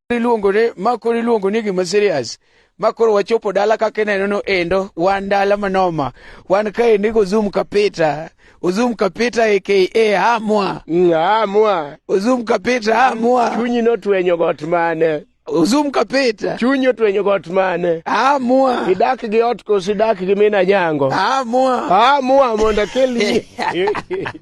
iluongone ma koro iluongo ni gima serious ma koro wachopo dala kaka ineno no endo wan dala manoma wan kaendi gozum kapita ozum kapita aka hamwa Mm, Amwa. ozum kapita hamwa Chunyi notwenyo got mane? ozum kapita Chunyi otwenyo got mane? hamwa Idak gi ot koso idak gi mina nyango? hamwa Amwa mondo akelni.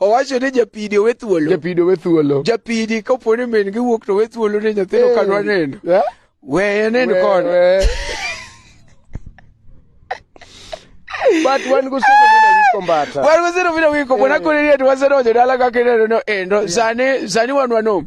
owacho ni japidi owe thuolo japidi owe thuolo japidi kapo ni min giwuok to owe thuolo ne nyathino hey. kadwa neno yeah? weye neno kod but wan gosego bila wiko mbata wan gosego bila wiko bona kore ni ati wasedonjo dala kaka ineno no endo sani sani wan wanom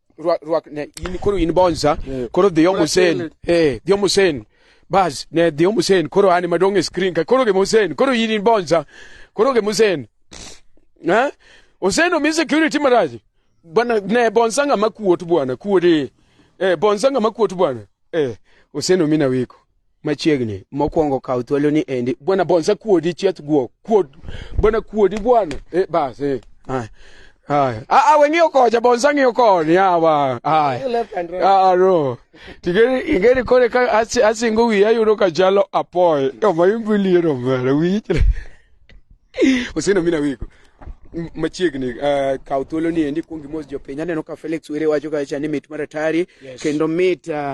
rwak rwak ne in koro in bonza Eh. koro dhi omo sen eh dhi omo sen bas ne dhi omo sen koro ani madong e screen ka koro gemo sen koro in in bonza koro gemo sen ha oseno mi security maraji bwana ne bonza ngama kuot bwana kuode eh bonza ngama kuot bwana eh oseno mi na wiko machiegni mokwongo kaw thuolo ni endi bwana bonsa kuodi chieth guo kuod bwana kuodi bwana e bas e haya haya a a weng'iyo kocha bonsa ng'iyo koni yawa haya a no tigeri ingeri kore ka asi- asingo wiya yudo ka chalo apoy omayumbuliro mara wichre oseno mina wiko M- machiegni uh, kaw thuolo ni endi kuongi mos jopiny aneno ka felix were wacho kacha ni mit maratari kendo mit uh,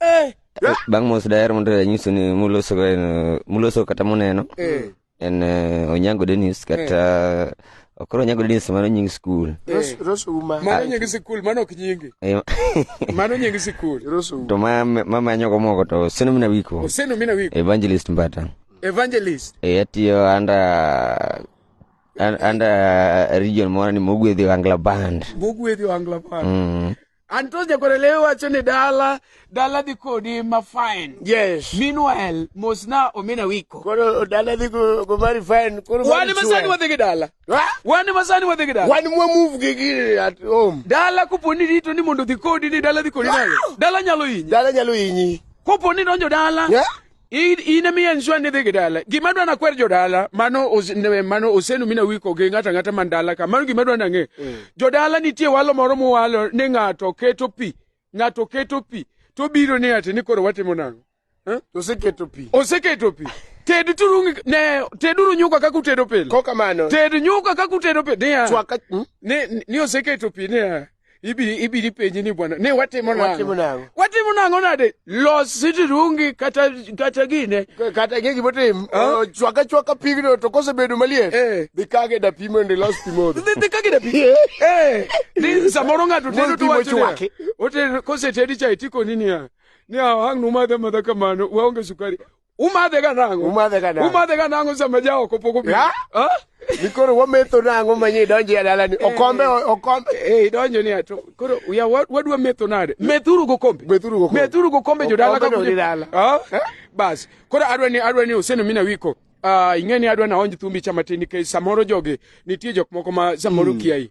Eh. bang' mos daher mondo anyiso ni muloso en- muloso kata muneno Eh. en eh, onyango denis kata ok koro onyango denis mano nying skul Ros- Rosu ma. Mano nying sikul, mano ok nyingi. Eh, Mano nying sikul. Rosu. to ma- mamanyogo moko to seno mina wiko Oseno mina wiko. evangelist mbata Evangelist. Eh, atiyo anda an- anda region moro ni mogwedhi wangla band Mugwedhi wangla band. Mm. Anto nyakorele wacho ni dala dala dhi kodi ma fine. Yes. Meanwhile mos na omena wiko. Koro dala dhi go, go very fine. Koro wan masani wadhi gi dala. Ha? Wan masani wadhi gi dala. Wan mwa move gi gi at home. Dala kopo ni rito ni mondo dhi kodi ni dala dhi kodi nalo. Dala nyalo hinyi. Dala nyalo hinyi. Kopo ni donjo dala. Yeah. in emiyo en zwa ni dhi gi dala gima dwa na kwer jodala mano mano osenu mina wiko gi ng'ata ng'ata man dala ka mano gima dwa na ng'e mm. jodala nitie walo moro muwalo ni ng'ato keto pi ng'ato keto pi to biro ni ati ni koro watimo nang'o eh? oseketo pi oseketo pi ted turu ne teduru nyuka kaka utedo pile ko kamano ted nyuka kaka utedo pile niya chwaka hmm? ni ni oseketo pi niya ibili ibili penji ni bwana ne watimo nango watimo nango watimo nango nade los siti rungi kata kata gine kata gigi botim huh? chwaka chwaka pigno to kose bedo maliet eh. dhi kage da pimo ndi los pimo dhi kage da pimo eh ni samoro ngato tendo to wacho ote kose tedi chai tiko nini ya ni awang numadha madha kamano waonge sukari Umadhe ga nango. Umadhe ga nango. Umadhe ga nango sama ja oko poko bi. Ha? Nikoro wametho nango manye idonje ya dalani. Eh. Okombe okombe. Eh idonje ni ato. Koro ya wadwa metho nade? Methuru go kombe. Methuru go kombe. Methuru go kombe jodala ka kuje. Ha? Bas. Koro adwa ni adwa ni useno mina wiko. Uh, ing'e ni adwa naonj thumbi cha matin nikech samoro jogi nitie jok moko ma samoro mm. kiai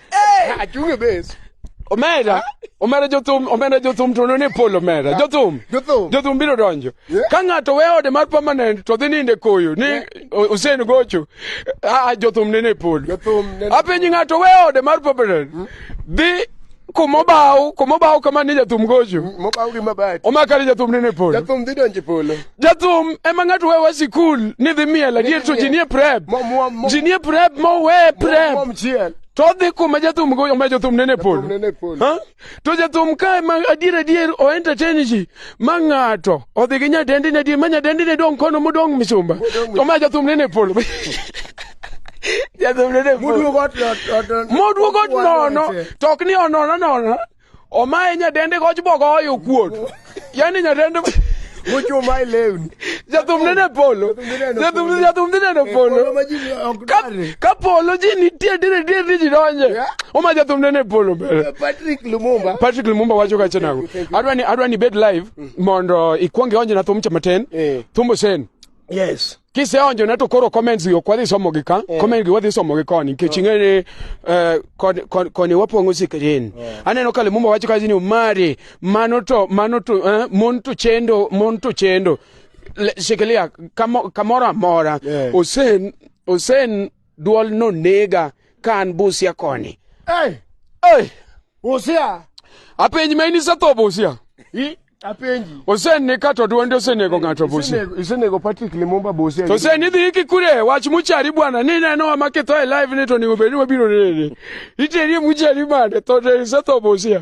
Achung' e base. omera omera jothum omera jothum to none pol omera jothum Jothum. jothum biro donjo Yeah. ka ng'ato we ode mar permanent to dhi ninde koyo ni o- Hussein gocho a jothum nene pol Jothum nene- apenji ng'ato we ode mar permanent dhi kumobaw kumobaw kama ni jathum gocho Mokaw gi mabati. omakari jathum nene pol Jathum dhi donjo e polo. jathum ema ng'ato we wa sikul ni dhi miel adier to ji nie prep ji nie prep mowe prep to odhi kuma jathum go ma jathum nene polo to jathum kae ma adier adier o entertain ji ma ng'ato odhi gi nyadendine adier ma nyadendine dong' kono modong' misumba to ma jathum nene polo jathum nene polo moduogo nono to ok ni onono nono Omaye nyadende goch bogo oyo kuot. Yani nyadende Mucho mai lewni. Jathum nene polo. Jathum jathum nene polo. Ka polo ji nitie dire dire ni ji donje. Oma jathum nene polo bere. Patrick Lumumba. Patrick Lumumba wacho kacha nago. Adwani adwani bed live mm. mondo ikwonge onje na thum chamaten. Eh. Thumbo sen. Yes. Kiseonjo na to koro comments yo kwadhi somo gi ka. Yeah. Comment gi wadhi somo gi koni nikech oh. ing'ere eh koni kon, kon, wapong'o sikrin. Yeah. Aneno kale mumba wacho kazi ni umari mano to mano to eh, mon to chendo mon to chendo. Shikilia kamoro amora. Yeah. Osen osen Dwol no nega ka an Busia koni. Hey! Hey! Busia! Apenji ma in isetho Busia? I? Apenji. Osenni ka to dwonde osenego ng'ato Busia. Isenego Patrick Limumba Busia. To seni dhi iki kure wach muchari bwana ni neno wa makitho e live ni to ningo bedi wabiro nene. Iteri muchari mane to isetho Busia.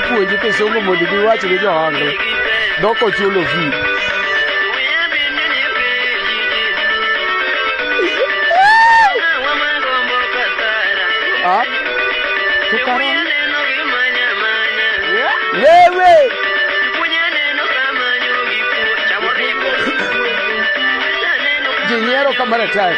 puonjo kisungu mondo giwach ne johango dok ochulo fi wewe jinyiero kama daktari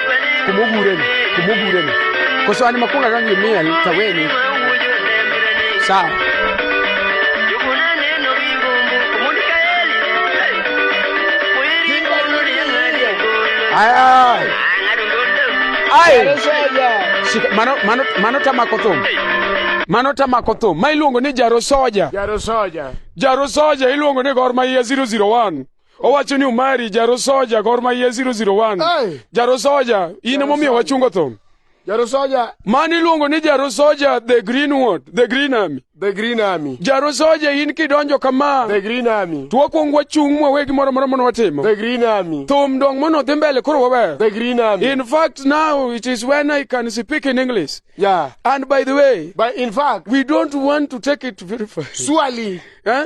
kumugureni kumugureni koso ani makunga gangi miel taweni sawa Ay, ay. Ay. Shika, mano, mano, mano tamako thum mano tamako thum ma iluongo ni jarosoja Jaro soja. jarosoja iluongo ni gor mahia 001 owacho ni omari jarosoja gor maye 001 jarosoja in emomiyo wachungo thum jarosoja mani iluongo ni jarosoja the green ward the green army the green army jarosoja in kidonjo kama the green army to wakwong wachung' mwawe gimoro moro mono watimo the green army thum dong mono dhi mbele koro wawe the green army in fact now it is when i can speak in english yeah and by the way but in fact we don't want to take it very far surely eh?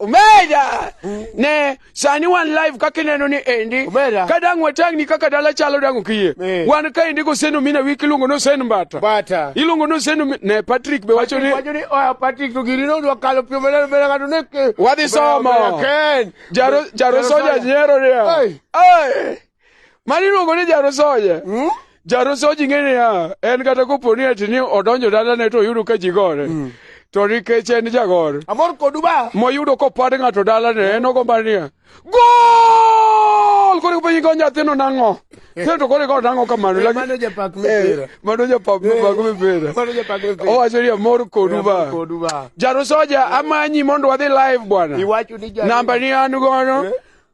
Omera. Mm. Ne, sani wan live kaka ineno ni endi. Omera. Ka dang' watang' ni kaka dala chalo dang' okiye. Eh. Wan ka endi goseno mina wiki iluongo ni Osen Mbata. Mbata. Iluongo ni Osen ne Patrick be wacho ni. Wacho ni oya Patrick to gini nodwa kalo pio mele mele kadu ne. Wadhi somo. Jaro jaro soja nyero ni. Ai. Ai. Mani luongo ni jarosoja. Mm? Jarosoji ng'e niya, en kata kopo ni ati ni odonjo dalane to oyudo ka ji gore. Mm. To nikech en jagor. Amor kodu ba. Moyudo kopad ng'ato dalane, en ogomba niya, gol! Koro penyi ko nyathino nang'o? Kendo to koro ikawo nang'o kamano. Eh, mano japak mipira. Eh, mano japak eh, mipak mipira. Mano japak mipira. Owacho ni amor kodu ba. Kodu ba. Jarosoja amanyi mondo wadhi live bwana. Iwacho ni jarosoja. Namba ni an gono.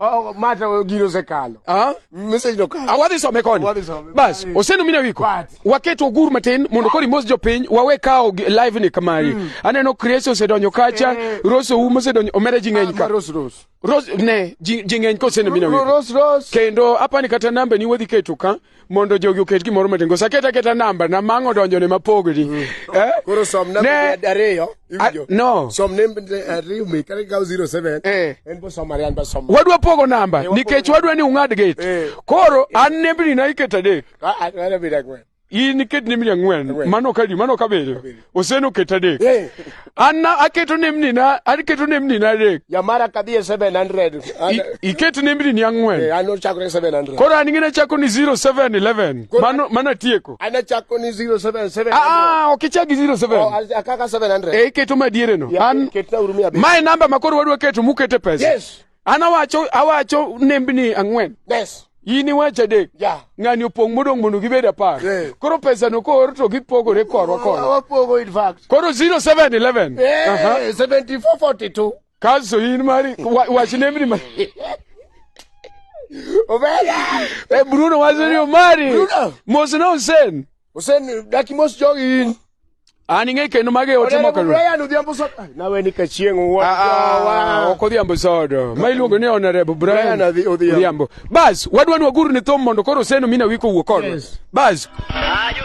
Oh, mata gino osekalo. Ah? Message no kalo. Awadhi some koni. Awadhi some. Bas, osenu mine wiko. Waketo ogur matin mondo kori mos jopiny wawe kawo live ni kamari. Mm. Aneno Chris osedonyo kacha, eh. Rose Ouma osedonyo omera ji ng'eny ka. Ah, Rose Rose. Rose ne ji ng'eny kosenu mine wiko. Rose Rose. Kendo apani kata namba ni wadhi keto ka. mondo jogi oket gimoro matin koso aket aketa namba na mang' odonjone mapogni mm. eh? koro som namba ariyo iwinjo no som namba eh, ariyo mi kare kaw 07 eh. en bo som ariyan ba som wadwa pogo namba nikech wadwa ni ung'ad gate eh. koro an nembni na iketo adek ah, ah, in iket nembni ang'wen mano kadi mano kabiriyo oseno ket adek Eh, an na- aketo nembnina aketo nembnina adek jamara kadhi e 700 an- I- iket nembnini eh, ang'wen an ochakore 700 koro an ing'ina chako ni 0711 Koro- mano mano atieko an achako ni 077 aa ok ichak gi Oh, 07 a- akaka 700 e iketo madiereno Yeah, an ketna uru mia abich. ma e namba ma koro wadwa keto mukete pesa Yes. An awacho awacho nembni ang'wen. Yes. in iwacho adek yeah. ng'ani opong' modong' mondo gibed apar yeah. koro pesano koor to gipogore korwa korwa koro 0711 yeah, uh -huh. 7442 kaso in mari wach nembni ma Obeda! Eh, Bruno wacho ni omari mosna osen Osedaki mos jogi in. An ing'e kendo mage ote moko. Onego Brian odhiambo sodo. Ai, Nawe ni ka chieng' wuon Ah, ah, jowa. ok odhiambo sodo ma iluongo ni honorable Brian Brian Adhi- Odhiambo. Odhiambo. Bas wadwa ni waguru ni thum mondo koro seno mina wiko wuo kodwa. Yes. Bas Ayo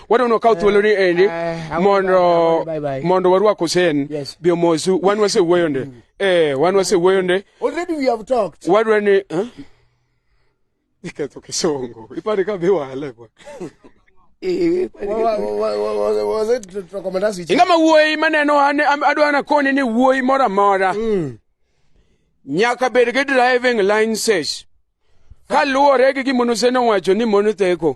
wadwano kawo thuoloni eh, endi eh, mondo mondo warwak Hussein yes. bi omosu wan wasewuoyo nde mm. eh wan wasewuoyo nde already we have talked wadwa ni eh? iketho kisongo ipare ka biwale bwa ingama wuoyi maneno ane adwa nakoni ni wuoyi moro amora mm. nyaka bed gi driving license kaluwore gi gima nosene owacho ni mon theko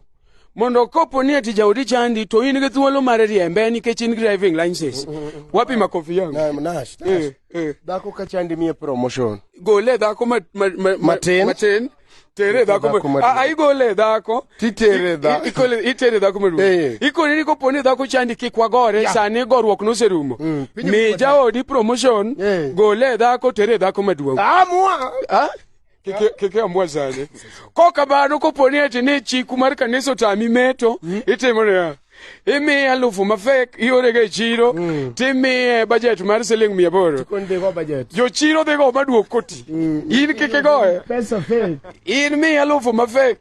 mondo kopo ni ati jaodi chandi to in gi thuolo mar riembe nikech in driving license wapi makofi yangu Na- Nash, Nash. Eh, eh. dhako ka chandi miye promotion gole dhako ma- ma- ma- ma- Matin. matin tere dhako Dhako ma- maduong'. Ah, ah, igole dhako Titere I- dha- i- ikole- itere dhako maduong Eh. ikone ni kopo ni dhako chandi kik wagore Yeah. sani goruok noserumo Mm, pinyo mi kuwa jaodi promotion Eh. gole dhako tere dhako maduong amua Ah? keke ambwa zane ko kabano koponi ati ne chiku mar kanisa otami meto mm. itimo niya imiye alufu mafek iorega e chiro mm. timiye bajet mar siling mia aboro jochiro dhi go maduok koti mm. in kike goye in miye alufu mafek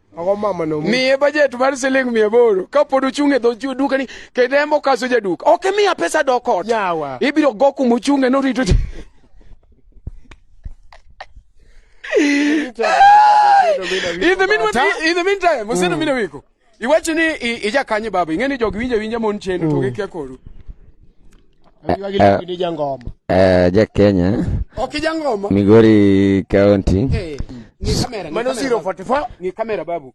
miye bajet mar siling mia aboro kapod ochung' e dho dukani kendo embo kaso jaduka ok imiya pesa dok ot ibiro go kuma ochung'e norito in the meantime in the meantime museno mm. mine wiko iwacho ni ijakanye baba ing'e ni jogi winje winje mon chendo to mm. gikia koru eh, eh, ni jangoma eh ja Kenya ok jangoma Migori County hey, eh, ni kamera mano 044 ni kamera babu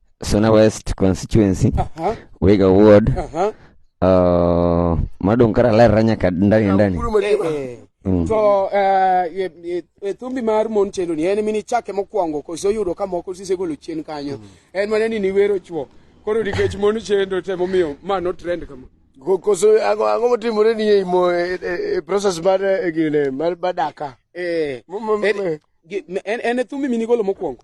Suna West constituency uh -huh. Wega ward uh -huh. uh, madonkara lerra nyaka ndani ndani eh, eh. Mm. to uh, thumbi mar mon chendo ni en mini chake mokwongo koso oyudo ka moko sisegolo chien kanyo mm. en mana ni niwero chwo koro nikech mon chendo temo miyo ma no trend kama koso ang'o motimore ni e, e, e process mar e, gine mar daka eh, en e thumbi minigolo mokwongo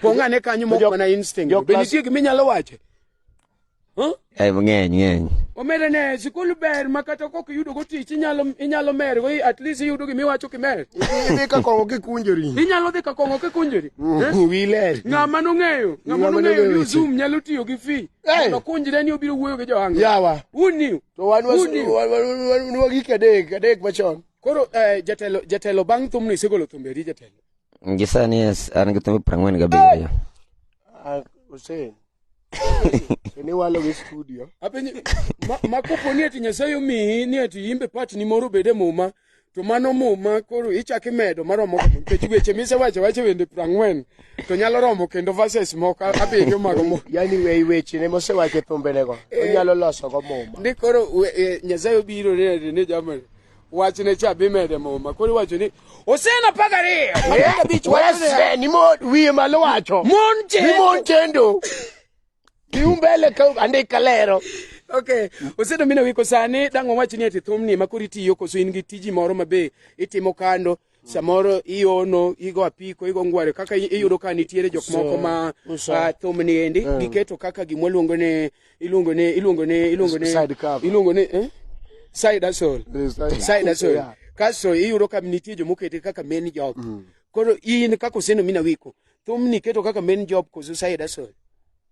Pong' ane kanyo mok mana instinct. Be nitie gima inyalo wache? Ai mang'eny ng'eny. Omere ne sikul ber ma kata kok yudo go tich inyalo inyalo mer go at least yudo gimi wacho kimer. Idhi ka kongo kikunjori. Inyalo dhi ka kongo kikunjori. Mm, eh? Wile. Ng'ama no ng'eyo, ng'ama no ng'eyo ni Zoom nyalo tiyo gi fi. To kunjre ni obiro wuoyo gi Johanga. Yawa. Who knew? To wan wan wan gik adek, adek machon. Koro eh, jatelo jatelo bang' thumni sigolo thumbe ri jatelo. Ngisani yes, an githume prangwen gabiriyo. Ah, Hussein. Iniwalo gi studio. Apenye ma, ma kopo ni ati Nyasaye omiyi ni ati imbe part ni moro bede muma to mano muma koro ichak imedo maromo kama nikech weche misewacho wacho wende prang'wen to nyalo romo kendo verses moko abiriyo mago mo Yaani wei weche ne mosewacho e thumbenego. Onyalo loso go muma. ni koro we- eh, Nyasaye obiro ne ati ni jamani wachne cha bimede muma koro iwacho ni osena pagariyo ni mod wiye malo wacho mon chendo iumbele andika lero Okay. Osedo mina wiko sani dang' wawach ni ati thumni ma koro itiyo koso in gi tiji moro ma be itimo kando samoro iono igo apiko igo ngware kaka i- iyudo ka nitiere jok moko ma Uso. ah, thum ni endi giketo kaka gimwa luongo ni iluongo ni iluongo ni iluongo ni Side cover. iluongo ni eh? side hustle side hustle Yeah. kaso iyudo ka nitie jomokete kaka main job koro in kaka oseno mina wiko thum ni keto kaka main job koso side hustle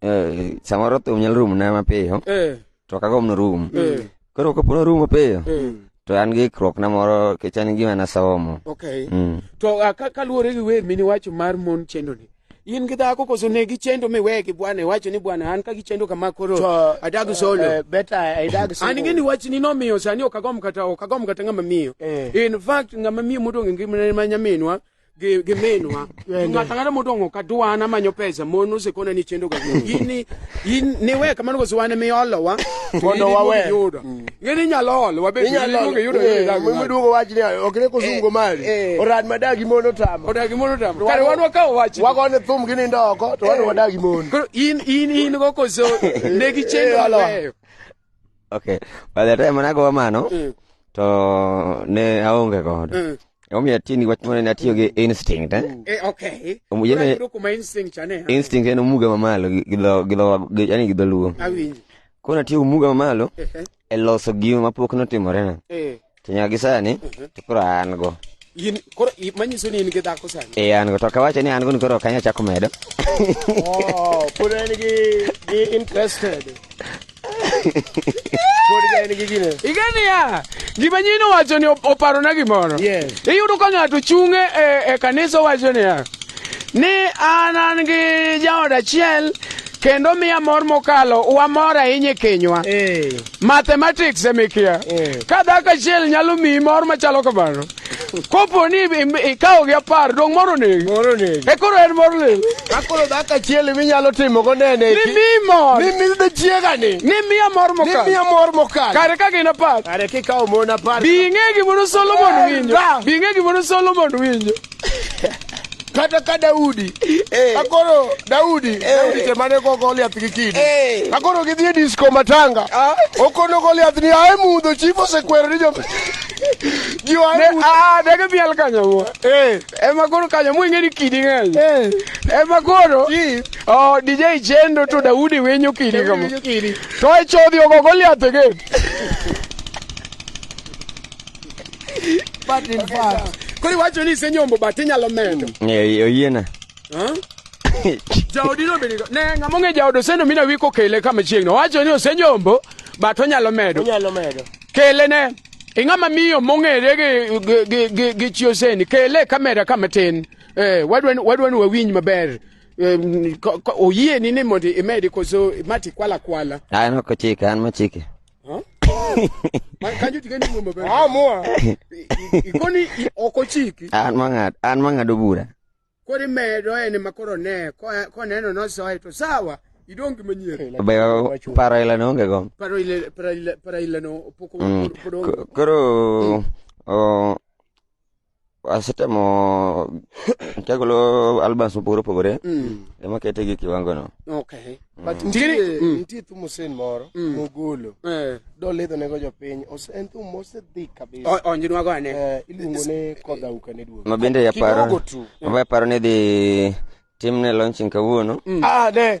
eh, samoro thum nyalo rumo na mapiyo eh. to ok agomno rum eh. koro kapo norum mapiyo eh. to an gi ikruok na moro kech an gima nasomo okay. mm. to uh, kaluwore gi wer mini wacho mar mon chendo ni in gi dhako koso ne gichendo miwe gi bwana iwacho ni bwana an ka gichendo kama koro adag eh, solo eh, an ing'e ni wachni nomiyo sani ok agom kata ok agom kata ng'ama miyo eh. in fact ng'ama miyo modong' e ngimane ma nyaminwa gi gi minwa ng'ata ng'ata modong'o ka duwana manyo pesa mon osekona ni chendo ga gini in ni we kamano koso wan mi olo wa Mondo wawe. yudo ngeni nyalo olo wabe inyalo yudo miduogo wach ni ok ne kosungo mali eh. orad madagi mon otamo odagi mono tam To kare wan- wan wakawo wach wagone thum gi nindo oko to wan wadagi mon koro in in in go koso ne gi chendo Eh, olo. mabeyo Okay. By the time nago mano mm. to ne aonge godo. Mm. Omiyo atiyo gi wach moro ne atiyo gi instinct eh? Mm. Eh, okay. Omiyo ne kuma instinct ane. Eh? Instinct en omuga mamalo gi dho gi dho yani gi dholuo. Awinji. Kona tiyo omuga mamalo eh, eh. e loso gima mapok notimore na. Eh. To nyaka gi sani mhm. to koro an go. In koro manyiso ni in gi dhako sani. Eh an go to kawacho ni an go ni koro kanya chako medo. Oh, pod en gi gi interested. Pod en gi gine. Igani ya. Gima nyino wacho ni oparo na gimoro. Yes. Iyudo ka ng'ato chunge e, e kanisa wacho ni ya. Ni an an gi jaoda achiel kendo miya mor mokalo wamor ahinya e kenywa. Eh. mathematics emikia eh. ka dhako achiel nyalo miyi mor machalo kamano kopo ni ikawo gi apar dong moro negi moro negi e koro en mor lil ka koro dhako achiel imi nyalo timo go nene ni mi mor ni mi de chiega ni ni mi amor mokal ni mi amor mokal kare ka gin apar kare kikawo mon apar bi ng'e gimono Solomon eh, winjo bi ng'e gimono Solomon winjo kata ka Daudi eh. akoro Daudi eh. Daudi te mane ko Goliath gi kidi eh. akoro gidhi e disco matanga ah. okono Goliath ni ae mudho chief osekwero ni jo ah, dege biel kanyo mo ema koro kanyo mo ing'eni kidi ng'eny ema koro oh, DJ Chendo to Daudi winyo kidi kama to e chodhi ogo Goliath again But in fact, koro iwacho ni isenyombo but inyalo medo. Eh, oyiena. Huh? Jaodino be nigo. Ne ng'ama ong'e jaod oseno mina wi kokele kama chiegno. Wacho ni osenyombo but onyalo medo. Onyalo medo. Kele ne ing'ama miyo mong'ere gi gi- gi- gi- gi chi oseni kele kamera kama tin. Eh, wadwa ni- wadwa ni wawinj maber. Eh, ko- ko- Oyieni ni mondo imedi koso mati kwala kwala. An ok ochike, an mochike. Huh? Man, can you get any woman? Ah, more. Ikoni okochiki. An mang'ad, an mang'ado bura. Kori medo ene makoro ne, koneno nosoe to sawa. idong manyien be paro ile no onge go paro ile paro ile paro ile no poko mm. koro asetemo chagolo albums mopogore opogore mm. ema kete gi kiwango no okay mm. but nitie mm. nitie thum Hussein moro mogolo eh. do ledho nego jopiny en thum mose dhi kabisa onjinwa go ane eh, iluongo ne kodha uka ne duogo mabende yaparo mabende yaparo ni dhi timne launching kawuono ah ne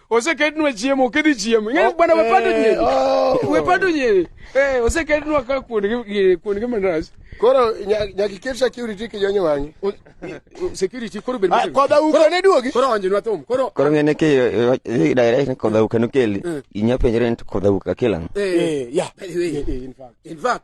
osekednwa chiemo kidhi chiemo ing'e oh, bwana wepando eh, nyiri oh. wepando nyiri eh, osekednwa ka kuondgi mandas koro nyaka iket security kijonye wang'i security koro bed ah, koda uka ne duogi koro onjinwa thum koro koro ngene ki eh, direct koda uka nokeli inya penjre ni koda uka kilang eh ya in fact in fact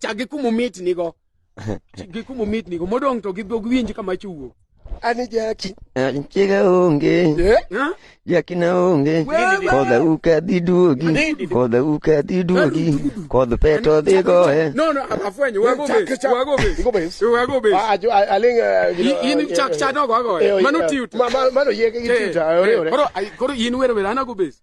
Chak gi kuma omit nigo. Gi kuma omit nigo. Modong' to giwinj kama chiwuok. Ani jaki. Chiega onge. Jaki na onge. Kodha uka dhi duogi. Kodha uka dhi duogi. Kodh peto dhi goye. No, no, afwenyo. Wago bes. Wago bes. Wago bes. Wago bes. Aling. In chak chado wago. Mano tiut. Mano yege gi tiut. Koro in wero wero anago bes.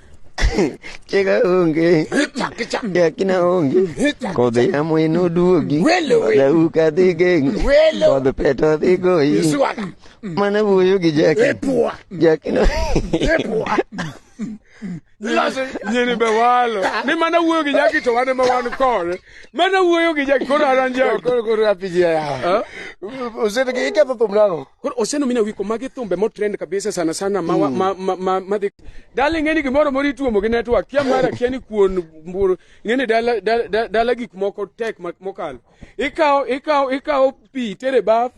Chega onge. Jakina onge. Kodhi yamo in oduogi. Dau ka dhi geng. Kodh peto dhi goyi. Mana wuoyo gi jaki. Jakina. nyini be walo ni mana wuoyo gi jaki to wan ema wan kore mana wuoyo gi jaki koro aranjako koro koro apiji ya osete ke iketho thum nang'o Koro osenomina wiko magi thumbe motrend kabisa sana sana ma mm. ma ma, ma, ma dhi dala ing'eni gimoro moro ituomo gi network kia mara kia ni kuon mbur ing'eni dala dala, dala, dala gik moko tek mokalo ikawo ikawo ikawo pi tere baf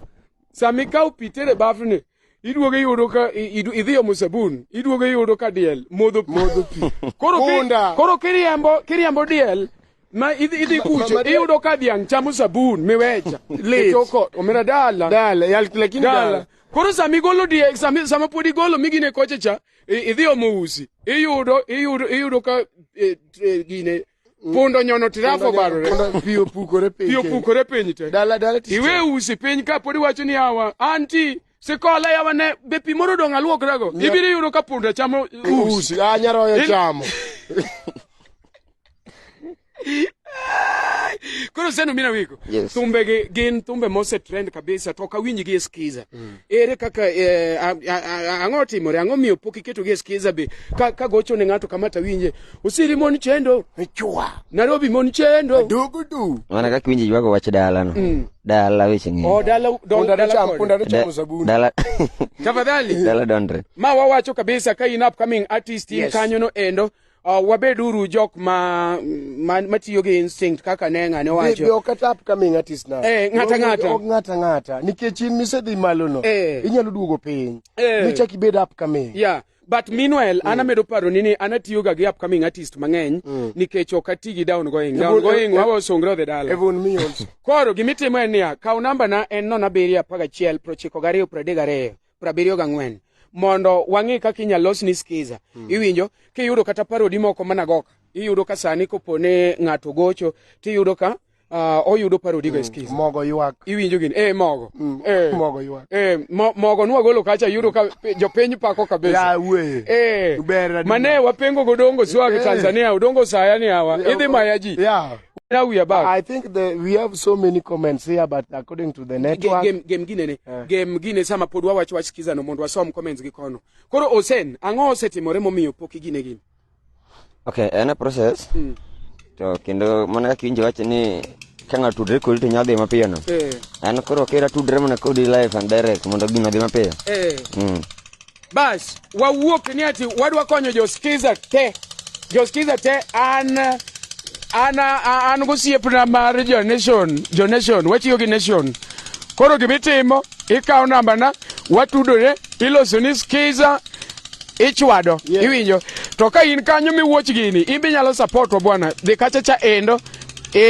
sami ikawo pi tere baf ni iduogo iyudo ka idhi omo sabun iduogo iyudo ka diel modho pi koro kiriambo kiriambo diel ma idhi idhi Ma- ma- kucho ma- iyudo ka dhiang' chamo sabun miwecha Lit. itoko omera dala Dala, yal- lakini dala dala. koro sama igolo die sama, sama pod igolo migine koche cha i- idhi omo usi iyudo iyudo iyudo ka eh, eh, gine pundo nyono tirafo barore Kondo pi opukore piny. pi opukore piny te Dala dala tich. iwe usi piny ka pod iwacho ni awa anti Sikola yawone be pi moro dong' aluokrago. Nya- Ibiro yudo ka punda chamo us. Usi, ah, nyaroya In- chamo. Koro seno mina wiko. Yes. Thumbe gi gin thumbe mose trend kabisa to kawinj gi eskiza. Ere kaka eh, a- a- a- ang'o timore? Ang'o miyo pok iketo gi eskiza be ka ka gocho ne ng'ato kama tawinje Osiri mon chendo. Chwa. Nairobi mon chendo. Dugu du. Wana kaka winji ywago wach dala no. Mm. Dala weche ng'eny. Oh, dala don dala cham, punda dala cham sabuni. Dala. Tafadhali. Dala dondre. Ma wawacho kabisa ka in upcoming artist in yes. kanyo no endo. Uh, wabeduru jok ma matiyo ma gi instinct kaka ne ng'ane wacho. Be ok ata upcoming artist na. Eh, ng'ata ng'ata. Ok ng'ata ng'ata. Nikech in misedhi malo no. Eh. Inyalo duogo piny. Eh. Michak ibed upcoming. Yeah. but meanwhile mm. an amedo paro ni ni an atiyo ga gi upcoming artist mang'eny mm. nikech ok ati gi down going down going e- wawa osongre odhi dala even me also koro gima itimo en niya kaw namba na en nono abiriyo apar gachiel prochiko gariyo pradek gariyo prabiriyo gang'wen mondo wang'e kaka inyalo los ni skiza mm. iwinjo kiyudo kata parodi moko managoka iyudo ka sani kopone ng'ato gocho tiyudo ka Ah, oyudo parodi go eskiz mm, mogo ywak iwinjo gini eh mogo mm, eh mogo ywak eh mo, mogo nwa golo kacha yudo ka jopiny pako kabisa ya we eh ubera mane wapengo go dongo swag eh. Tanzania udongo saya ni hawa eh, idhi maya ji yeah now we are back i think the we have so many comments here but according to the network game game gine ne yeah. game gine sama pod wawacho wach kiza no mondo wasom comments gi kono koro osen ango osetimore momiyo poki gine gine Okay, en a process. Mm. To kendo mana kaka injo wacho ni ka ng'ato tudre kodi to nyalo dhi mapiyo no. Eh. An koro kera tudre mana kodi live and direct mondo gino dhi mapiyo. Eh. Mm. Bas, wawuok ni ati wadwa konyo joskiza te. Joskiza te an an an gosiepna mar jo nation, jo nation, watiyo gi nation. Koro gibitimo, ikawo nambana, watudore, iloso ni skiza ichwado yeah. iwinjo to ka in kanyo miwuoch gini in be nyalo support wa bwana dhi kacha cha endo e,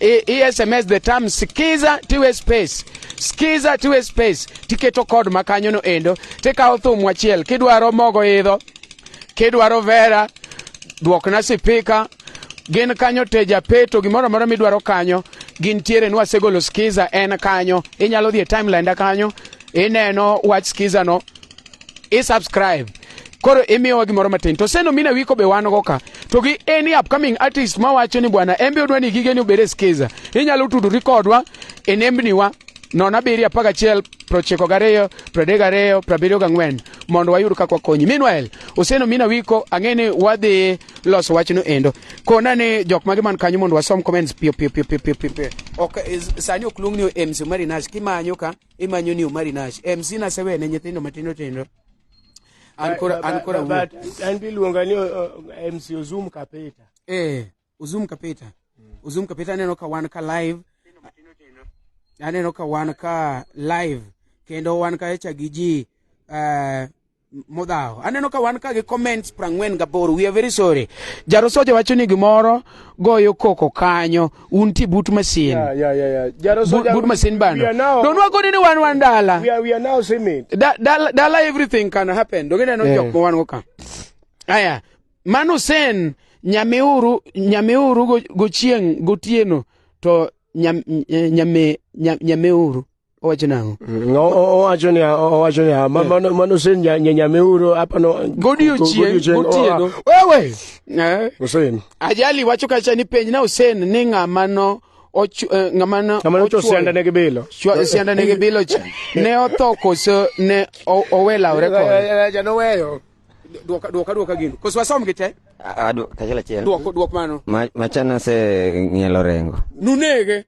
e, e sms the term skiza tiwe space skiza tiwe space tiketo kod ma kanyo no endo tikawo thum achiel kidwaro mogo idho kidwaro vera dwokna sipika gin kanyo teja peto gimoro amora midwaro kanyo gin tiere nwa segolo skiza en kanyo inyalo dhi e timeline da kanyo ineno wach skiza no i subscribe koro imiyowa gimoro matin to seno mina wiko be wan go ka to gi any upcoming artist ma wacho ni bwana en be odwa ni gige ni obed e skiza inyalo tudori kodwa e nembniwa nono abiriyo apar gachiel prochiko gariyo pradek gariyo prabiriyo gang'wen mondo wayud kaka wakonyi meanwhile oseno mina wiko ang'e ni wadhi loso wachno endo kona ni jok mage man kanyo mondo wasom comments piyo piyo piyo piyo piyo ok sani ok luong ni mc marinas kimanyo ka imanyo ni omari nash em sina sewe ne nyithindo matindo tindo an kora an kora wuo but an biluonga ni uh, uh, MC Ozum Kapeta eh Ozum Kapeta Ozum Kapeta aneno ka wan ka live aneno ka wan ka live kendo wan ka echa gi ji uh, modhawo aneno ka wan ka gi comments prang'wen gaboro we are very sorry jarosoja wacho ni gimoro goyo koko kanyo un ti but masin yeah, yeah, yeah, yeah. but, but masin bando don't work on anyone one dollar we are, we are now seeing da, da, da, everything can happen don't get no yeah. joke one worker aya manu sen nyamiuru nyamiuru gochieng go gotieno to nyam, nyame nyam, nyamiuru owacho nang'o mm, owacho ni owacho ni eh. mano mano sen nyanyame uro hapa no godiochieng gotieno wewe eh. Hussein ajali wacho kacha ni penj na Hussein ni ng'ama no eh, ng'ama no ocho sianda ne gibilo sianda ne gibilo cha ne otho koso ne owelawre kode ja no weyo Dwok dwok adwoka gino. Koso wasom gi te? Ah, dwok achiel achiel. Dwok dwok mano. Ma machana se ng'ielo rengo. Nunege.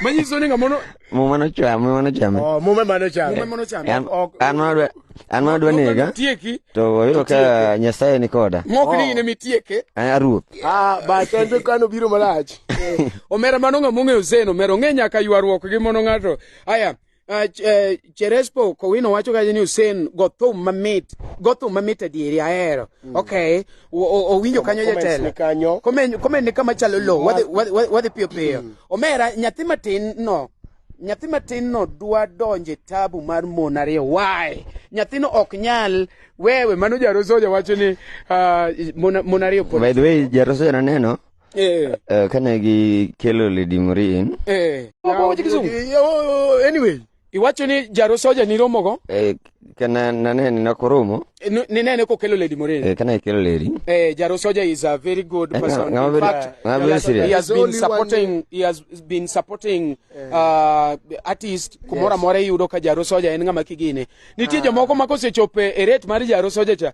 Manyiso ni ngamono Muma no chwa, muma no chame. Oh, muma mano chame. Muma mano chame. An an ma dwa an ma dwa nega. Tieki. To wayudo ka Nyasaye ni koda. Ng'ok ni oh. ne mitieke. An aruoth. Ah, ba kendo kano biro malach. Omera mano ng'amo ng'eyo zeno, omera ong'e nyaka ywaruok gi mono ng'ato. Aya. Uh, ch uh, Cherespo Kowino wacho kaje ni Hussein go thum mamit go thum mamit adieri ahero mm. okay owinjo kanyo jatelo kanyo komen komen ni kama chalo lo wadhi wadhi piyo piyo mm. omera nyathi matin no nyathi matin no dwa donje tabu mar mon ariyo why nyathino ok nyal wewe mano jarosoja wacho ni uh, mon ariyo by the way jarosoja naneno Eh. Eh, kane gi kelo Lady Morin. Eh. Wawache kizungu. Oh, anyway. Iwacho ni jaro soja ni romo go? Eh, kana nane ni nakoromo. Eh, ni nene ko kelo Lady Morin. Eh, kana kelo Lady. Eh, jaro soja is a very good eh, person. Ngama very, ngama very serious. He has been supporting, he has been supporting uh, artist kumora yes. more yudo ka jaro soja en ngama kigine. Nitie ah. jomoko ma kosechope e rate mar jaro soja cha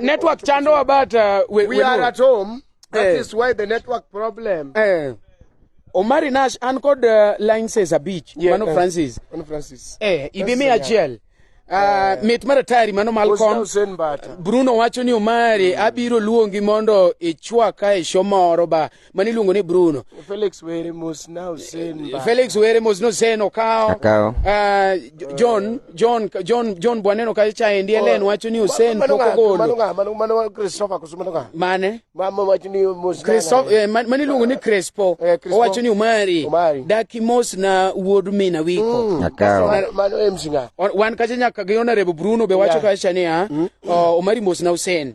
network chando about uh, we, we, we are at home that eh. is why the network problem eh. Omari Nash an kod uh, line says a beach yeah, mano uh, Francis mano Francis eh ibi mi achiel Uh, eh. mit mar atari mano Malcolm Bruno wacho ni Omari mm. abiro luongi mondo ichwa ka e show moro ba mane iluongo ni Bruno. Felix were mos na Hussein. Eh, Felix were mos no Hussein Okao. Okao. Uh, ah, John John John John Bwaneno ka cha endi Ellen oh, wacho ni Hussein poko golo. Mano nga mano mano Christopher kusuma nga. Mane? Mama wacho ni mos. Christopher eh, mane iluongo ni Crespo. Eh, Owacho ni Umari. Umari. Daki mos na wuod mina wiko. Mm. Okao. Mano emsinga. Wan kacha nyaka gi honorable Bruno be wacho yeah. ka cha ni ah. Mm. Oh, Umari mos na Hussein.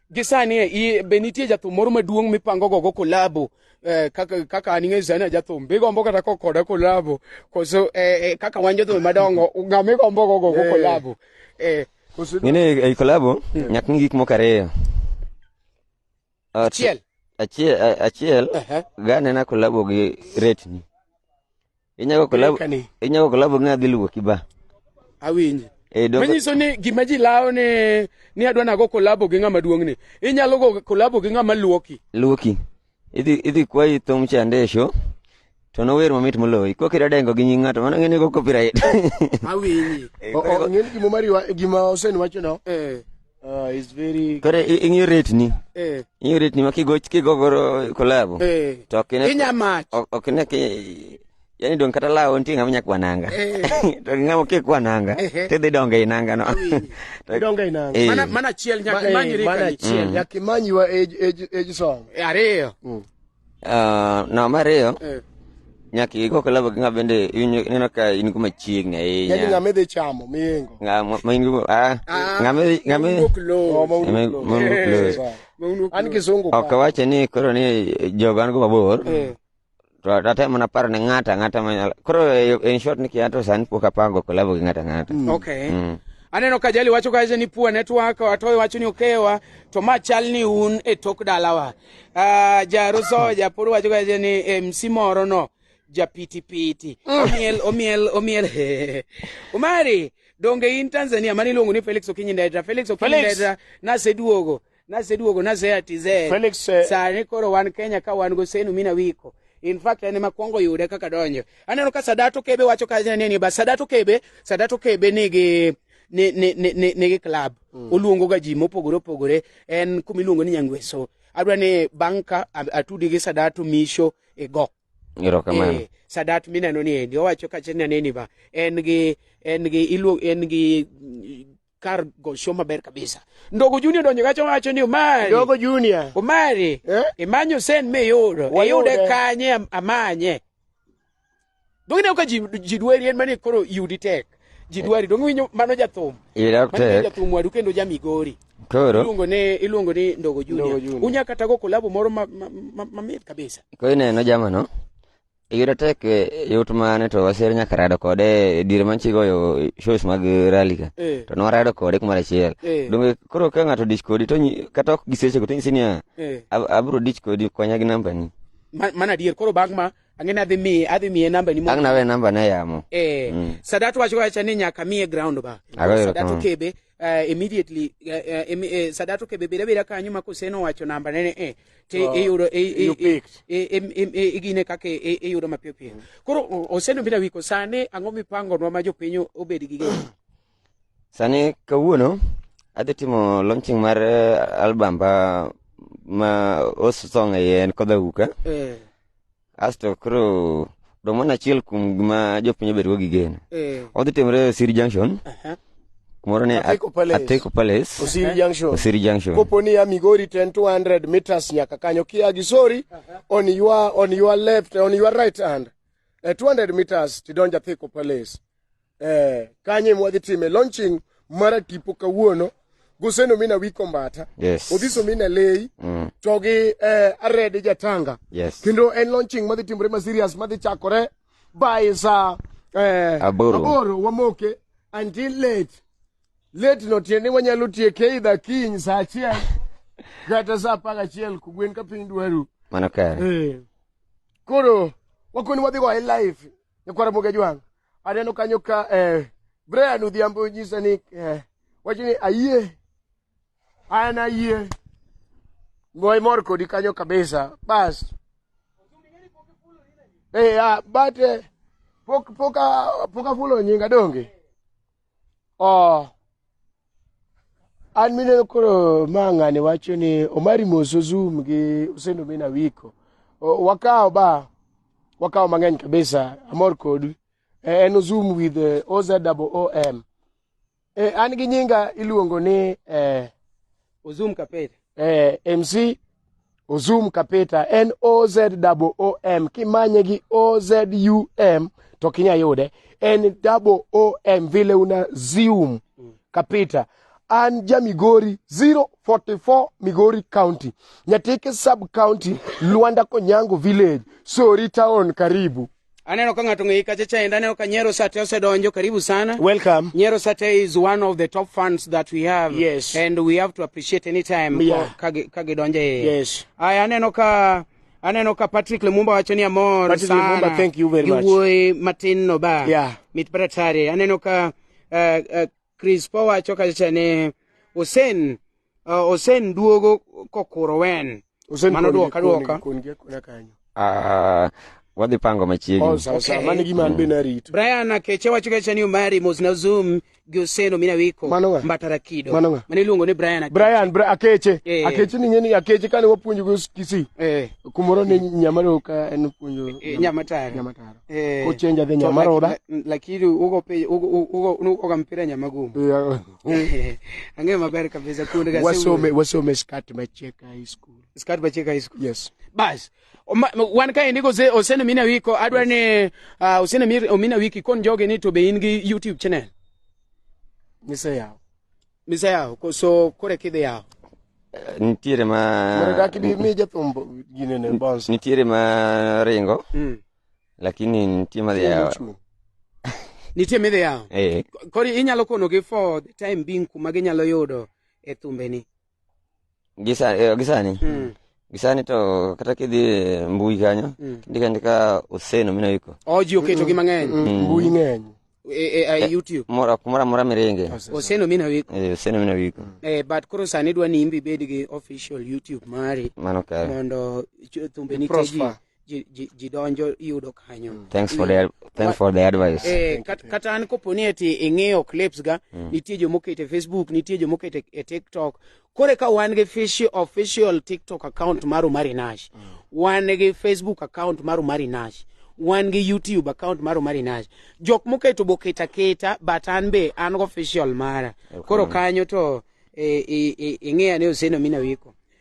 Gi sani i- be nitie jathum moro maduong' mipango gogo kolabo eh, kaka kaka an ing'eyo sani jathum bigombo kata ko koda kolabo koso eh, eh, kaka wan jothum madongo ng'a migombo go gogo kolabo eh, koso Ngine ei kolabo nyaka ng'i gik moko ariyo. Ah, Achiel. Achiel a- achiel Ehe. ga nena kolabo gi retni. Inyago kolabo Kani. inyago kolabo ng'a dhi luwo kiba. Awinji. Eh doko. Manyiso ni gima ji lawo ni ni adwa nago kolabo gi ng'ama duong' ni. Inyalo go kolabo gi ng'ama luoki. Luoki. Idhi idhi kwayi thum cha ndesho. To nower mamit moloyi. Kok iradengo gi nying ng'ato mano ng'eni go copyright. Awinji. O- o- Ng'eni gima Omari wa- gima Hussein wacho no. Eh. Ah, it's very Koro i- ing'iyo rate ni. eh Ing'iyo rate ni ma kigo kigo goro kolabo. eh To ok ine inya mach ok ok ine ki yani dong kata lawo nitie ng'ama nyak wananga. Eh. To ng'ama kik wananga. Ehe. Tidhi donge i nanga no. Awinji. To- donga inanga Eh. mana mana chiel Ma- nyaka eh, manyi mana rikani chiel nyaka imanyiwa age- age- age song ariyo Ah, namba ariyo Eh. nyaka igo kolabo gi ng'a bende iwinjo ineno ka in go machiegni Yaani ahinya ng'ama idhi chamo miyengo. Ng'a ma- ma in go ah, ng'a ma idhi- ng'a ma idhi- Oh, ma un- ma un- ma un- Eh, sawa. An kisungu ok ka. awache ni koro ni joga an go mabor Eh. to atemo mana paro ne ng'ata ng'ata manyalo koro eh, in short ni kiato sani pok apango kolabo gi ng'ata ng'ata Okay. Mm. Aneno ka jali wacho kacha ni poor network, watoyo wacho ni okewa, to ma chal ni un e tok dalawa. Ah, Jaruso japur wacho ga ni eh, MC moro no japitipiti mm. omiel omiel omiel Umari donge in Tanzania mani luongo ni Felix Okinyi Ndedra Felix Okinyi Ndedra naseduogo naseduogo naseya TZ Felix eh. sani koro wan Kenya ka wan go senu mina wiko in fact en ema kwongo yude kaka donjo aneno ka Sadato Kebe wacho ka ni ba Sadato Kebe Sadato Kebe nigi ni, ni, ni, ni, nigi club mm. oluongo ga ji mopogore opogore en kuma iluongo ni nyangweso adwa ni bang' ka atudi gi sadato misho e go erokamano e, sadat mineno ni endi owacho kache ni aneni ba en gi en gi iluo en gi kar gosho maber kabisa ndogo junior donjo kacho wacho ni omari ndogo junior omari eh? imanyo sen miyudo iyude kanye amanye Donge ineno ka ji ji dwari en mane koro yudi tek. Ji dwari donge winyo mano jathum. Ira Mano tek. jathum wadu kendo ja Migori. Koro Iluongo ni iluongo ni Ndogo Junior. Ndogo Junior. Unya kata go kolabo moro ma ma- ma- mamit kabisa. koro ineno jamano. Ira tek eh, yot mane to wasir nyaka rado kode e diere manchi goyo shows mag rally ka. Eh. To nwarado kode kumoro achiel. Eh. Donge koro ka ng'ato dich kodi to nyi- kata ok gisechego to nyisi niya Eh. "Ab- abro dich kodi konya gi nambani. Ma- Mana adier koro bang' ma ang'eni adhi miye adhi miye namba ni ang' nawe namba na yamo eh mm. sadat wacho wacha ni nyaka miye ground ba sadat okebe uh, immediately uh, uh, im, uh, sadat okebe bira bira kanyo ma kuseno wacho namba nene eh te oh, iyudo igine kaka iyudo mapiyo piyo mm. koro oseno bira wiko sane ang'o mipangonwa ma jopiny obed gi geno Sani kawuono adhi timo launching mar eh, album ba ma os song e iye en Kodha Uka. Eh, Asto koro dong' mana achiel kuom gima jopiny obedogo gi geno. eh, Odhi timore e Osiri Junction, aha. kumoro ni Ateko Palace. Ateko Palace, Osiri Junction. Osiri Junction. Kopo ni ya Migori 10 200 meters nyaka kanyo kia gi sorry on your on your left on your right hand. Eh, 200 meters tidonja Theko Palace. eh, kanye mwadhi time launching mara tipo kawuono goseno mina wiko mbata yes. odhiso mina lei mm. to gi eh, arede jatanga yes. kendo en launching madhi timore ma serious madhi chakore by sa eh, aboro. aboro wamoke until late late no tiende wanyalo tieke idha kiny sa achiel kata sa apar achiel kugwen ka piny dwaru mano kare eh. koro wakoni wadhi go e life nyakwara moga jwang Aneno kanyo ka eh, Brian Odhiambo nyisa ni eh, wacho ni ayie an ayie ngoy mor kodi kanyo kabisa bas eh, ah, but eh, pok pok ah, pok afulo nyinga donge Oh. an mineno koro ma ng'ani wacho ni omari moso zoom gi usendo mina wiko O- wakawo ba wakawo mang'eny kabisa amor kodu Eh, en zoom with eh, ozom eh, an gi nyinga iluongo ni eh, Ozum Kapeta. Eh, MC Ozum Kapeta N O Z double O M kimanye gi O Z U M to kinya yude N double O M vile una zoom Kapeta an ja Migori 044 Migori County Nyatike sub county Luanda Konyango village Sori town karibu Aneno ka ng'ato ng'eyi kacha chaenda, aneno ka Nyero Sate osedonjo, karibu sana. Welcome. Nyero Sate is one of the top fans that we have. Yes. And we have to appreciate any time yeah. ka gidonjo e. Yes. Aya aneno ka aneno ka Patrick Lumumba wacho ni amor Patrick sana. Patrick Lumumba, thank you very much. Iwuoyi matin no ba. Yeah. Mit paratari. Aneno ka uh, uh, Krispo wacho kacha ni Hussein uh, Hussein duogo kokuro wen. Hussein Mano kuongi- duoka duoka. kuongi- kuongi akona kanyo. Ah, wadhi pango Oh, machiegni. sawa, sawa. Okay. Mano e gima an be narito. Brian Akeche wacho kacha ni Omari mos na Zoom gi Hussein Omina Wiko Mano ng'a? Mbatara Kido. Mano ng'a? Mane iluongo ni Brian Akeche. Brian, Bra- Akeche. Eh. Akeche ni ng'eni Akeche kane wapuonjo go Kisii. Eh, Kumoro ne Nyamareo ka en puonjo eh, Nyamatara. Nyamatara. Eh, kuchenja dhi nyama roda lakini uko pe uko uko uko kampira nyama gumu eh, ange maber kabisa kundi kasi wasome wasome skat macheka high school skat macheka high school yes bas wan ka indiko se osene mina wiko adwa ni uh, osene mina wiki kon joge ni to be in gi youtube channel ni se yawo Misa yaho koso kore kidhi yaho? Eh, nitiere ma nitiere ma ringo mm. lakini nitie madhi yawa nitie midhi yawa eh. kori inyalo konogi for the time being kuma ginyalo yudo e thumbeni Gi sa- eh, gi sani Mm. gi sani to kata kidhi e mbui kanyo Mm. indiko andika oseno mino iko Oh, ji oketo gi mang'eny mbui ng'eny e, e, e, YouTube. mora kumora mora miringe Oseno mina wiko. Eh, oseno mino iko Eh, but koro sani dwa ni imbi bed gi official YouTube mari mano kare mondo ch- thumbeni te ji Prosper. ji, ji, ji donjo iyudo kanyo mm. thanks for the, thanks for the advice eh, kat, kata an kopo ni eti ing'iyo clips ga mm. nitie jomokete facebook nitie jomokete e tiktok kore ka wan gi official, official tiktok account mar Omari Nash mm. wan gi facebook account mar Omari Nash wan gi youtube account mar Omari Nash jok moketo boketa keta but an be an go official mara okay. koro kanyo to e, e, e, ing'eya ni oseno mina wiko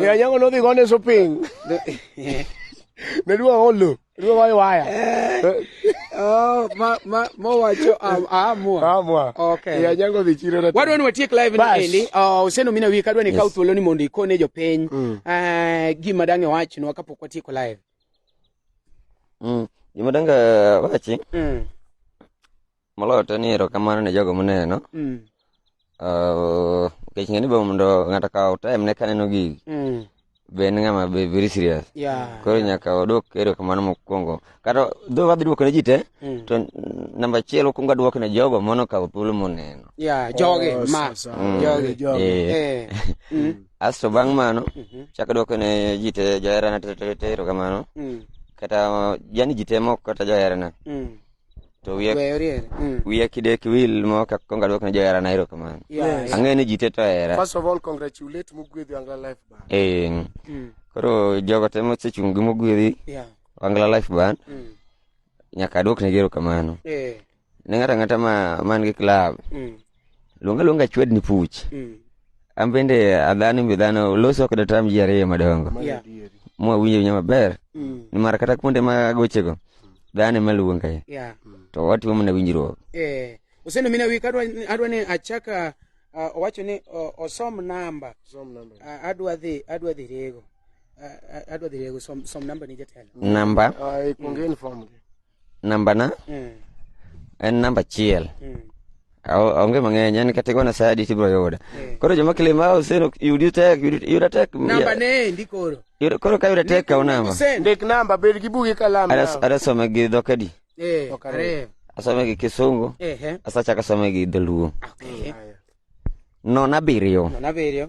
Eh, anyango nodhi gone shopping. Ne duwa olo. Duwa wayo waya. Eh. Oh, ma ma mo wacho amua. Amua. Okay. Ya nyango dhi chiro na. Wadwa ni watiek live ni endi. Oh, useno mina wi kadwa ni kaw thuolo ni mondo ikone jopiny. Mm. Eh, gima dange wach no kapok watieko live. Mm. Gima dange wachi. Mm. Moloyo te ni erokamano ne jogo moneno. Mm. Uh, nikech ng'e ni be mondo ng'ato okaw time ne kaneno gigi. Mm. Be en ng'ama be very serious. Yeah. Koro nyaka odwok erokamano mokwongo. Kata dho wadhi dwoko ne ji te, Mm. to namba achiel wakwongo adwoko ne jogo mono okawo thuolo moneno. Yeah, jogi Oh, ma. sasa. Mm. Jogi. Jogi. Eh. Eh. Mm. Asto bang' mano, Mhm. chako dwoko ne ji te joherana te te te erokamano. Mm. Kata yani ji te moko kata joherana. Mm. to wiya Weyo riere. Mm. wiya kidek wil mo kak kong adwok ne johera na erokamano Yeah, yeah. ang'e ni ji te to hera First of all, congratulate Mugwedhi Angla Life Band. Eh, Mm. koro jogo te mosechung' gi mogwedhi Yeah. wangla life band Mm. nyaka adwok ne erokamano Eh. ne ng'ato ang'ata ma man gi club Mm. Luonga luonga chwed ni puch. Mm. An bende adhano mbi dhano loso kod tam ji ariyo madongo. Yeah. Mwa winjo nyama ber. Mm. Ni mara kata kuonde ma gochego. Dhano ma luonga. Yeah. To watimo mana winjruok. Eh. Usendo mina wi kadwa adwa ni achaka uh, owacho ni uh, osom namba. Osom namba. Uh, adwa dhi adwa dhi rego. Uh, adwa dhi rego som som namba ni jatelo. Namba. Uh, ah, ikongeni mm. form. Nambana Mm. en namba achiel. Mm. Ao- Onge mang'eny, en kata igona sa adi tibiro yuda. Eh. Koro joma kilima ah, Hussein ok- yudi tek, yudi- yuda tek. Namba ya- ne ndi koro. yuda- Koro ka yuda tek kaw namba. Hussein. Ndik namba, bed gi bugi kalam. Adas- now. Adasome gi dhok adi? Eh, Ok, are. Asome gi Kisungu, Ehe. asachako asome gi Dholuo. Okay. Aya. Non abiriyo. Nona biriyo.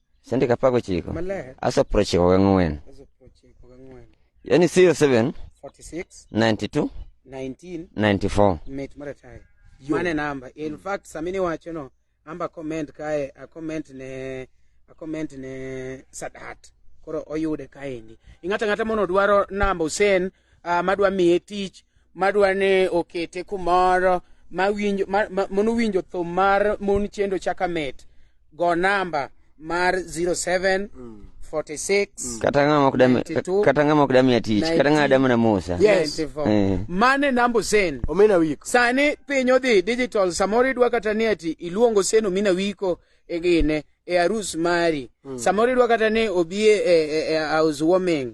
sendika apar gochiko maler asa prochiko gang'wen aso prochiko gang'wen yani 07 46 92 19 94 mit maratari mane namba in fact samini wacho no amba comment kae a comment ne a comment ne sadat koro oyude kaendi ing'ata ng'ata mono dwaro namba Hussein uh, madwa miye tich madwa ni okete kumoro mawinjo ma, ma, mondo winjo thum mar mon chendo chaka mit go namba mar 07 46 kata ng'ama ok dami 92. kata ng'ama ok dami atich kata ng'ama dami na musa Yes. 94. Eh. mane namba osen omena wiko sani piny odhi digital samoro idwa kata ni ati iluongo seno mina wiko e gine e arus mari samoro idwa kata ni obi e, e, e, e house warming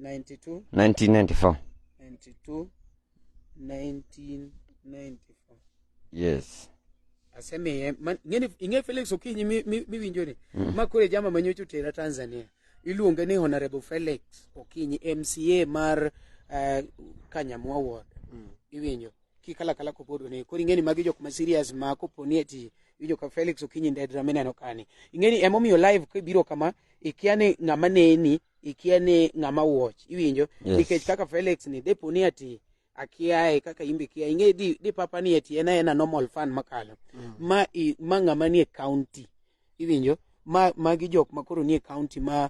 92 1994 92 1994 yes asemiye man- ing'eni- ing'e felix okinyi mi- mi- miwinjo ni ma koro e jama manyocha otera tanzania iluonge ni honorable felix okinyi mca mar eh, kanyamwa ward iwinjo kikalakala kopodo ni koro ing'eni magi jok ma serious ma koponi ati iwinjo ka felix okinyi ndedra mineno kani ing'eni emomiyo live kibiro kama ikia ni ng'ama neni ikia ni ng'ama watch iwinjo Yes. nikech kaka Felix ni depo ni ati akiaye kaka imbe kia inge di, di papa ni ati ena ena normal fan makalo ma i, ma ng'ama nie county iwinjo ma magi jok ma koro nie county ma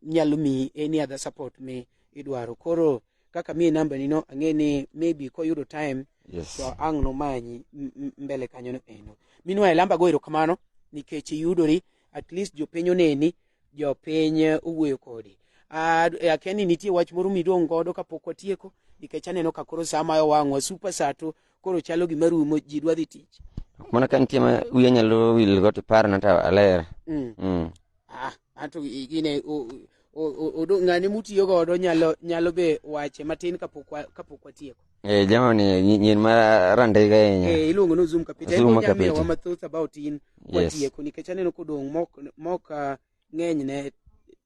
nyalo mi any other support mi idwaro koro kaka mi namba ni no ang'e ni maybe koyudo time Yes. to ang' nomanyi m- m- mbele kanyo no eno minwa elamba go erokamano nikech iyudori at least jopiny oneni jopiny owuoyo kodi Ah, eh, akia ni nitie wach moro midong' godo kapok watieko nikech aneno ka koro saa mayo wang'wa super saa to koro chalo gima rumo ji dwa dhi tich Ok mana ka nitie ma wiya nyalo wil go to iparna to aler. Mm. Mm. Ah, anto i- gine o- o- o- odo- ng'ane mutiyo godo nyalo nyalo be wache matin kapok wa- kapok watieko Eh, jamani nyi- nyin ma randega ahinya. Eh, iluongo ni Ozum Kapita. Ozum En onyalo Kapita. miyowa mathoth about in Yes. watieko nikech aneno kodong' mok mok ah, ng'eny ne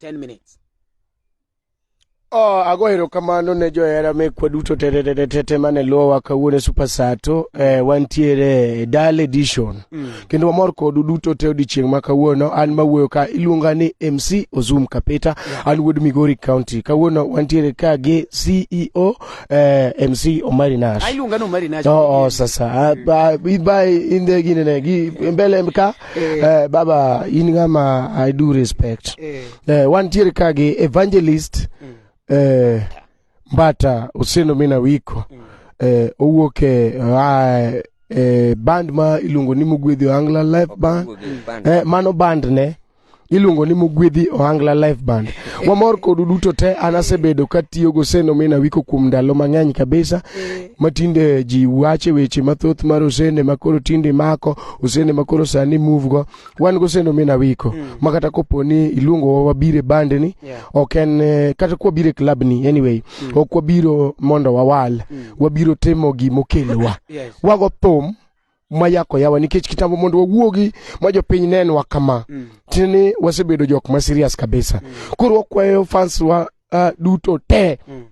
10 minutes. Oh, ago erokamano ne johera mekwa duto tetetetete mane luwowa kawuono e super sato eh, wantiere e dal edition Mm. kendo wamor kodu duto te odiochieng' ma kawuono an mawuoyo ka iluonga ni mc ozum kapeta an wuod migori county kawuono wantiere ka gi ceo eh, MC Omari Nash. Ailunga no Omari Nash. Oh, oh sasa ah, ba ba inde gine ne gi mbele mka eh. eh, baba in kama I do respect. Eh, eh one tier ka gi evangelist mm. eh Mbata Useno Mina Wiko mm. eh owuok e ah, eh, band ma iluongo ni Mugwedhi Angla Live Band. Eh, mano band ne. iluongo ni mugwedhi ohangla life band wamor kodu duto te an asebedo katiyo goseno mi nawiko kuom ndalo mang'eny kabisa matinde ji wache weche mathoth mar osende makoro tinde mako osende makoro sani move go wan goseno mi nawiko ma kata kopo ni iluongo wabire bande ni Yeah. ok en eh, kata kwabire club ni anyway ok wabiro mondo wawal wabiro timo gimokelowa Yes. wago thum mayako yawa nikech kitambo mondo wawuogi ma jopiny nenwa kama mm. tini wasebedo jok ma serious kabisa mm. koro wakwayo fans wa uh, duto te mm.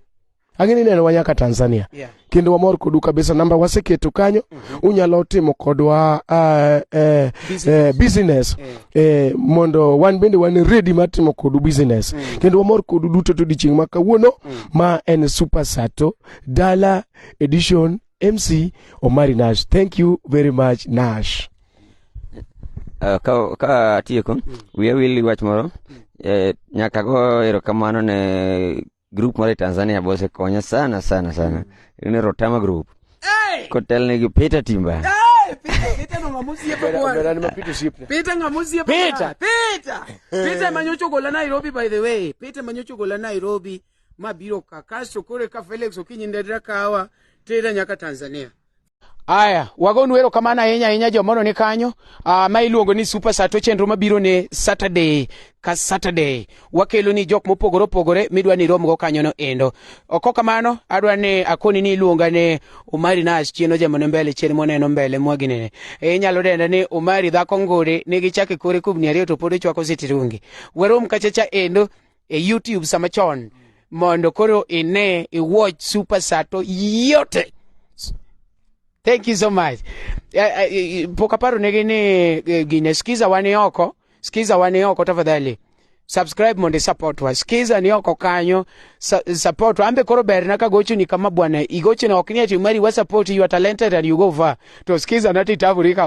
ang'eni neno wa nyaka tanzania yeah. kendo wamor kodu kabisa namba waseketo kanyo mm -hmm. unyalo timo kodwa uh, eh, business, eh, business yeah. eh, mondo wan bende wan ready mar timo kodu business mm. kendo wamor kodu duto to dichieng' ma kawuono mm. ma en super sato dala edition MC Omari Nash. Thank you very much, Nash. Uh, ka, ka atieko wiya wil gi wach moro eh, nyaka go erokamano ne grup moro e tanzania bosekonya sana sana sana ne rotama group kotelne gi peter timba Bera ni mapito osiepna. Peter Ngamusie Peter. Peter. Peter Manyocho Gola Nairobi by the way. Peter Manyocho Gola Nairobi. mabiro ka kasto koro eka Felix Okinyi Ndadra kawa tera nyaka Tanzania. Aya, wagonu wero kamana ahinya ahinya jomono ni kanyo uh, ma iluongo ni Super Sato chenro mabiro ne Saturday ka Saturday wakelo ni jok mopogore opogore midwa ni romgo kanyo no endo oko kamano adwa ni akoni ni iluonga ne Omari Nash chieno jamone mbele chien moneno mbele mwaginene e inyalo denda ni Omari dhako ngode nigi chake kore kubni ariyo to pod ochwako sitirungi werom kachacha endo e YouTube sama chon mondo koro ine i watch super sato yote thank you so much Eh, eh, eh, pok aparo negi ni eh, gine skiza wani oko skiza wani oko tafadhali subscribe mondo support wa skiza ni oko kanyo sa, support wa ambe koro berna ka gochuni kama bwana igochina ok ni ati mari wa support you are talented and you go far to skiza nati tavurika